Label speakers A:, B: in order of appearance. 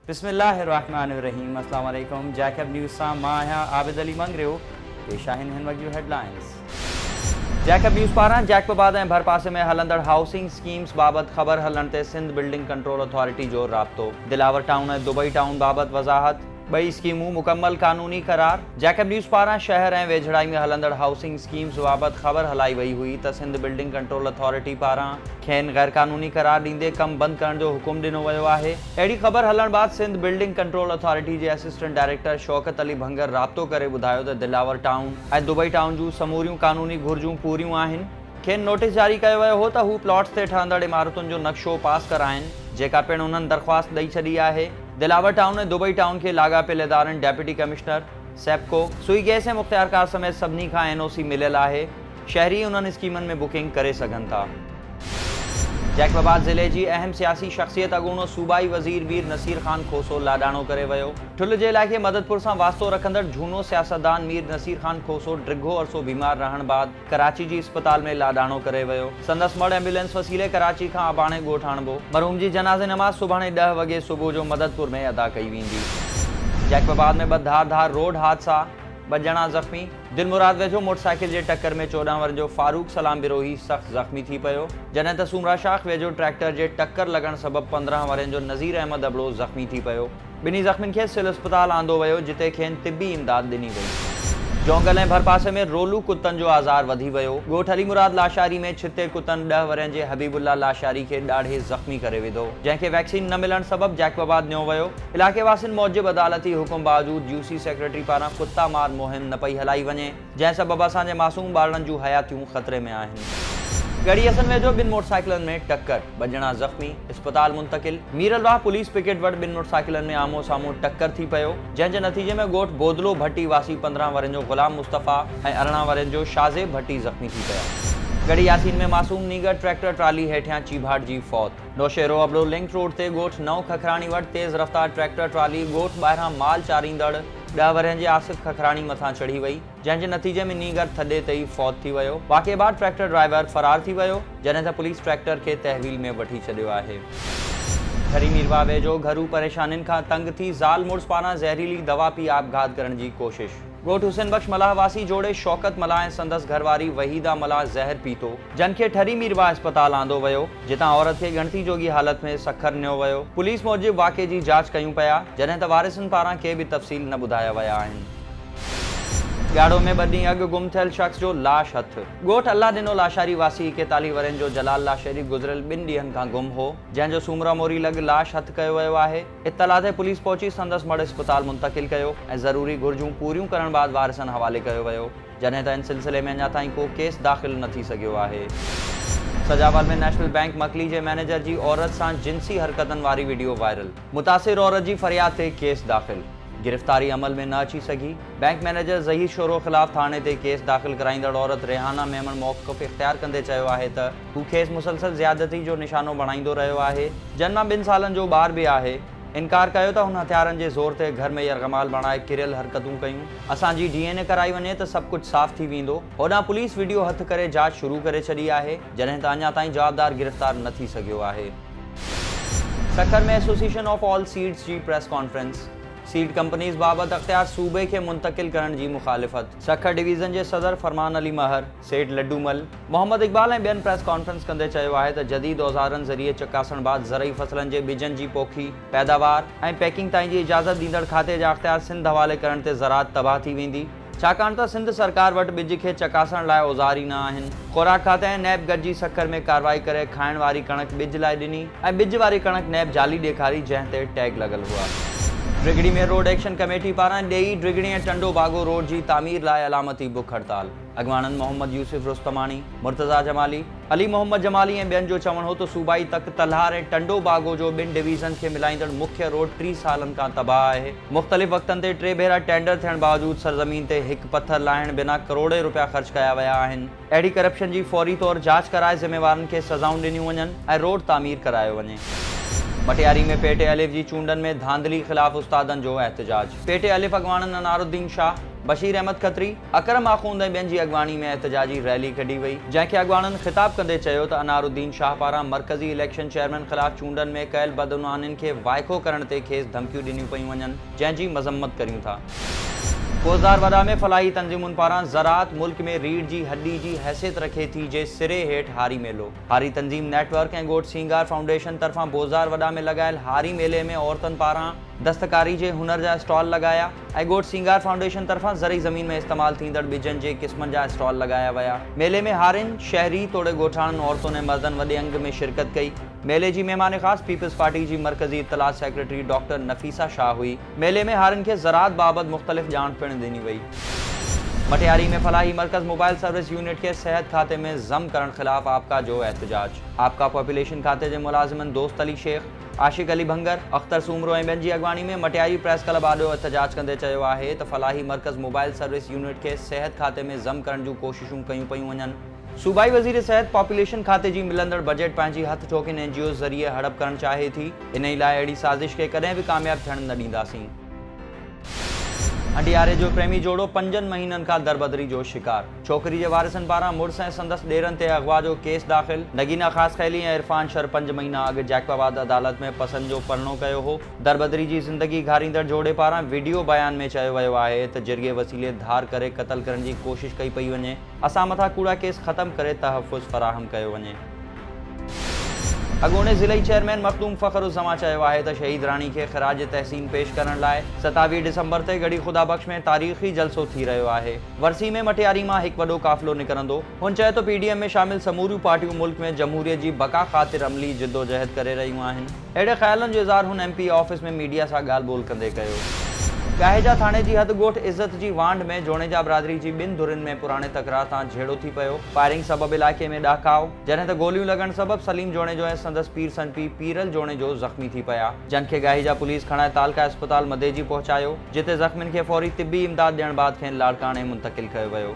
A: بسم الله الرحمٰن الرحيم اسلام عليڪم جيڪب نيوز سان مان آهيان عابد علي مڱريو پيش آهن هن وقت جون هيڊلائنز جيڪب نيوز پاران جيڪب آباد ۽ ڀرپاسي ۾ هلندڙ هائوسنگ اسڪيمز بابت خبر هلڻ تي سنڌ بلڊنگ ڪنٽرول اٿارٽي جو رابطو دلاور ٽائون ۽ دبئي ٽائون بابت وضاحت ٻئي اسڪيمون مڪمل قانوني قرار، جيڪب نيوز پاران شهر ۽ ويجهڙائي ۾ هلندڙ هائوسنگ اسڪيمز بابت خبر هلائي وئي هئي ته سنڌ بلڊنگ ڪنٽرول اٿارٽي پاران کين غيرقانوني قرار ڏيندي ڪم بند ڪرڻ جو حڪم ڏنو ويو آهي اهڙي خبر هلڻ بعد سنڌ بلڊنگ ڪنٽرول اٿارٽي جي اسسٽنٽ ڊائريڪٽر شوڪت علي ڀنگر رابطو ڪري ٻڌايو ته دلاور ٽائون ۽ دبئي ٽائون جون سموريون قانوني گهرجون پوريون آهن کين نوٽيس جاري ڪيو ويو هو ته هو پلاٽس تي ٺهندڙ عمارتن جو نقشو پاس ڪرائين جيڪا پڻ انهن درخواست ڏئي ڇڏي آهي. دلاور ٽائون ۽ دبئي ٽائون کي لاڳاپيل ادارن deputy commissioner, SEPCO, Sui gas ۽ مختيارڪار سميت سڀني کان اين او سي مليل آهي، شهري انهن اسڪيمن ۾ بڪنگ ڪري سگهن ٿا. جيڪب آباد ضلعي جي اهم سياسي شخصيت اڳوڻو صوبائي وزير مير نصير خان کوسو لاڏاڻو ڪري ويو. ٺل جي علائقي مددپور سان واسطو رکندڙ جھونو سياستدان مير نصير خان کوسو ڊگھو عرصو بيمار رهڻ بعد ڪراچي جي اسپتال ۾ لاڏاڻو ڪري ويو. سندس مڙهه ايمبولينس وسيلي ڪراچي کان اباڻي ڳوٺ آڻبو. مرحوم جي جنازي نماز سڀاڻي ڏهه وڳي صبح جو مددپور ۾ ادا ڪئي ويندي. جيڪب آباد ۾ ٻه ڌار ڌار روڊ حادثا، ٻه ڄڻا زخمي. دلمراد ويجهو موٽرسائيڪل جي ٽڪر ۾ چوڏهن ورهين جو فاروق سلام بروهي سخت زخمي ٿي پيو، جڏهن ته سومرا شاخ ويجهو ٽريڪٽر جي ٽڪر لڳڻ سبب پندرهن ورهين جو نذير احمد ابڙو زخمي ٿي پيو. ٻنهي زخمين کي سول اسپتال آندو ويو جتي کين طبي امداد ڏني وئي. جونگل ۽ ڀرپاسي ۾ رولو ڪتن جو آزار وڌي ويو، ڳوٺ علي مراد لاشاري ۾ ڇتي ڪتن ڏهه ورهين جي حبيب الله لاشاري کي ڏاڙهي زخمي ڪري وڌو، جنهن کي ويڪسين نه ملڻ سبب جيڪب آباد نيو ويو، علائقي واسين موجب عدالتي حڪم باوجود يو سي سيڪريٽري پاران ڪتا مار مهم نه پئي هلائي وڃي. جنهن سبب اسان جي معصوم ٻارڙن جون حياتيون خطري ۾ آهن. ڳڙهي حسن ويجهو ٻن موٽرسائيڪلن ۾ ٽڪر، ٻه ڄڻا زخمي، اسپتال منتقل، ميرلواهه پوليس پڪيٽ وٽ ٻن موٽرسائيڪلن ۾ آمهون سامهون ٽڪر ٿي پيو، جنهن جي نتيجي ۾ ڳوٺ بودلو ڀٽي واسي پندرهن ورهين جو غلام مصطفيٰ ۽ ارڙهن ورهين جو شاهزيب ڀٽي زخمي ٿي پيا. ڳڙهي ياسين ۾ معصوم نينگر ٽريڪٽر ٽرالي هيٺيان چيڀاٽجي فوت. نوشهرو ابڙو لنڪ روڊ تي ڳوٺ نئون ککراڻي وٽ تيز رفتار ٽريڪٽر ٽرالي ڳوٺ ٻاهران مال چاريندڙ، ڏهه ورهين جي آصف ککراڻي مٿان چڙهي وئي، جنهن جي نتيجي ۾ نينگر ٿڏي تي ئي فوت ٿي ويو. واقعي بعد ٽريڪٽر ڊرائيور فرار ٿي ويو، جڏهن ته پوليس ٽريڪٽر کي تحويل ۾ وٺي ڇڏيو آهي. ٺري ميرواهه ويجهو گهرو پريشانين کان تنگ ٿي زال مڙس پاران زهريلي دوا پي آپگهات ڪرڻ جي ڪوشش. ڳوٺ حسين بخش ملاح واسي جوڙي شوڪت ملاح ۽ سندس گهر واري وحيده ملاح زهر پيتو، جن کي ٺري ميرواهه اسپتال آندو ويو. جتان عورت کي ڳڻتي جوڳي حالت ۾ سکر نيو ويو. پوليس موجب واقعي جي جاچ ڪيون پيا، جڏهن ته وارثن پاران ڪي به تفصيل نه ٻڌايا ويا آهن. ڳاڙهو ۾ ٻه ڏينهن اڳ گم ٿيل شخص جو لاش هٿ. ڳوٺ الله ڏنو لاشاري واسي ايڪيتاليهه ورهين جو جلال لاشاري گذريل ٻن ڏينهن کان گم هو، جنهن جو سومرا موري لڳ لاش هٿ ڪيو ويو آهي. اطلاع تي پوليس پهچي سندس مڙهه اسپتال منتقل ڪيو ۽ ضروري گهرجون پوريون ڪرڻ بعد وارثن حوالي ڪيو ويو. جڏهن ته ان سلسلي ۾ اڃا تائين ڪو ڪيس داخل نه ٿي سگهيو آهي. سجاول ۾ نيشنل بئنڪ مڪلي جي مئنيجر جي عورت سان جنسي حرڪتن واري وڊيو وائرل، متاثر عورت جي فرياد تي ڪيس داخل، گرفتاري عمل ۾ نه اچي سگهي، بئنڪ مئنيجر ظهير شورو خلاف ٿاڻي تي ڪيس داخل ڪرائيندڙ عورت ريحانه ميمڻ موقف اختيار ڪندي چيو آهي ته هو کيس مسلسل زيادتي جو نشانو بڻائيندو رهيو آهي، جن مان ٻن سالن جو ٻار به آهي. انڪار ڪيو ته هن هٿيارن جي زور تي گهر ۾ يرغمال بڻائي ڪريل حرڪتون ڪيون. اسان جي ڊي اين اي ڪرائي وڃي ته سڀ ڪجهه صاف ٿي ويندو. هوڏانهن پوليس وڊيو هٿ ڪري جاچ شروع ڪري ڇڏي آهي، جڏهن ته اڃا تائين جوابدار گرفتار نه ٿي سگهيو آهي. Sukkur ۾ association of all seeds جي پريس ڪانفرنس، سيڊ ڪمپنيز بابت اختيار صوبي کي منتقل ڪرڻ جي مخالفت. سکر ڊويزن جي صدر فرمان علي مهر، سيٺ لڊو مل، محمد اقبال ۽ ٻين پريس ڪانفرنس ڪندي چيو آهي ته جديد اوزارن ذريعي چڪاسڻ بعد زرعي فصلن جي ٻجن جي پوکي، پيداوار ۽ پيڪنگ تائين جي اجازت ڏيندڙ کاتي جا اختيار سنڌ حوالي ڪرڻ تي زراعت تباهه ٿي ويندي، ڇاڪاڻ ته سنڌ سرڪار وٽ ٻج کي چڪاسڻ لاء اوزار ئي نه آهن. خوراڪ کاتي ۽ نيب گڏجي سکر ۾ ڪارروائي ڪري کائڻ واري ڪڻڪ ٻج لاء ڏني ۽ ٻج واري ڪڻڪ نيب جعلي ڏيکاري جنهن تي ٽيگ لڳل هئا. ڊگهڙي ۾ روڊ ايڪشن ڪميٽي پاران ڏيئي، ڊگهڙي ۽ ٽنڊو باگو روڊ جي تعمير لاء علامتي بک هڙتال. اڳواڻن محمد يوسف رستماڻي، مرتضيٰ جمالي، علي محمد جمالي ۽ ٻين جو چوڻ هو ته صوبائي تڪ تلهار ۽ ٽنڊو باگو جو ٻن ڊويزن کي ملائيندڙ مکيه روڊ ٽي سالن کان تباهه آهي، مختلف وقتن تي ٽي ڀيرا ٽينڊر ٿيڻ باوجود سرزمين تي هڪ پٿر لاهڻ بنا ڪروڙين رپيا خرچ ڪيا ويا آهن، اهڙي ڪرپشن جي فوري طور جاچ ڪرائي ذميوارن کي سزائون ڏنيون وڃن ۽ روڊ تعمير ڪرايو وڃي. مٽياري ۾ پي ٽي الف جي چونڊن ۾ ڌانڌلي خلاف استادن جو احتجاج، پي ٽي الف اڳواڻن انارالدين شاهه، بشير احمد کتري، اڪرم آخوند ۽ ٻين جي اڳواڻي ۾ احتجاجي ريلي ڪڍي وئي، جنهن کي اڳواڻن خطاب ڪندي چيو ته انار الدين شاهه پاران مرڪزي اليڪشن چيئرمين خلاف چونڊن ۾ ڪيل بدعنوانين کي وائکو ڪرڻ تي کيس ڌمڪيون ڏنيون پيون وڃن، جنهن جي مذمت ڪريون ٿا. ڪوزار وڏا ۾ فلاحي تنظيمن پاران زراعت ملڪ ۾ ريڙهه جي هڏي جي حيثيت رکي ٿي جي سري هيٺ هاري ميلو، هاري تنظيم نيٽ ورڪ ۽ ڳوٺ سينگار فائونڊيشن طرفان بوزار وڏا ۾ لڳايل هاري ميلي ۾ عورتن پاران دستڪاري جي هنر جا اسٽال لڳايا، ۽ ڳوٺ سينگار فائونڊيشن طرفان زرعي زمين ۾ استعمال ٿيندڙ ٻجن جي قسمن جا اسٽال لڳايا ويا. ميلي ۾ هارين، شهري توڙي ڳوٺاڻن عورتن ۽ مردن وڏي انگ ۾ شرڪت ڪئي. ميلي جي مهمان خاص پيپلز پارٽي جي مرڪزي اطلاعات سيڪريٽري ڊاڪٽر نفيسه شاهه هئي. ميلي ۾ هارين کي زراعت بابت مختلف ڄاڻ پڻ ڏني وئي. مٽياري ۾ فلاحي مرڪز موبائل سروس يونٽ کي صحت کاتي ۾ ضم ڪرڻ خلاف آپڪا جو احتجاج. آپڪا پاپوليشن کاتي جي ملازمن دوست علي شيخ، عاشق علي ڀنگر، اختر سومرو ۽ ٻين جي اڳواڻي ۾ مٽياري پريس ڪلب آڏو احتجاج ڪندي چيو آهي ته فلاحي مرڪز موبائل سروس يونٽ کي صحت کاتي ۾ ضم ڪرڻ جون ڪوششون ڪيون پيون وڃن، صوبائي وزير صحت پاپوليشن کاتي جي ملندڙ بجيٽ پنهنجي هٿ ٺوڪين اين جي اوز ذريعي هڙپ ڪرڻ چاهي ٿي، انهي لاء اهڙي سازش کي ڪڏهن به ڪامياب ٿيڻ نه ڏينداسين. انڊياري جو پريمي جوڙو پنجن مهينن کان دربدري جو شڪار، ڇوڪري جي وارثن پاران مڙس ۽ سندس ڏيرن تي اغوا جو ڪيس داخل، نگينا خاصخيلي ۽ عرفان شر پنج مهينا اڳ جيڪب آباد عدالت ۾ پسند جو پرڻو ڪيو هو، دربدري جي زندگي گهاريندڙ جوڙي پاران وڊيو بيان ۾ چيو ويو آهي ته جرڳي وسيلي ڌار ڪري قتل ڪرڻ جي ڪوشش ڪئي پئي وڃي، اسان مٿان ڪوڙا ڪيس ختم ڪري تحفظ فراهم ڪيو وڃي. اڳوڻي ضلعي چيئرمين مخدوم فخر الزمان چيو آهي ته شهيد راڻي کي خراج تحسين پيش ڪرڻ لاء ستاويهه ڊسمبر تي ڳڙهي خدا بخش ۾ تاريخي جلسو ٿي رهيو آهي، ورسي ۾ مٽياري مان هڪ وڏو قافلو نڪرندو، هن چيو ته پي ڊي ايم ۾ شامل سموريون پارٽيون ملڪ ۾ جمهوريت جي بقا خاطر عملي جدوجهد ڪري رهيون آهن. اهڙي خيالن جو اظهار هن M P A office ۾ media سان ڳالهه ٻولهه ڪندي ڪيو. ڳاهيجا ٿاڻي جي حد ڳوٺ عزت جي وانڍ ۾ جوڻيجا برادري جي ٻن ڌرين ۾ پراڻي تڪرار تان جهيڙو ٿي پيو، فائرنگ سبب علائقي ۾ ڏهڪاء، جڏهن ته گوليون لڳڻ سبب سليم جوڻيجو ۽ سندس پير سن پيء پيرل جوڻيجو زخمي ٿي پيا، جن کي ڳاهيجا پوليس کڻائي تعلقه اسپتال مديجي پهچايو، جتي زخمين کي فوري طبي امداد ڏيڻ بعد کين لاڙڪاڻي منتقل ڪيو ويو.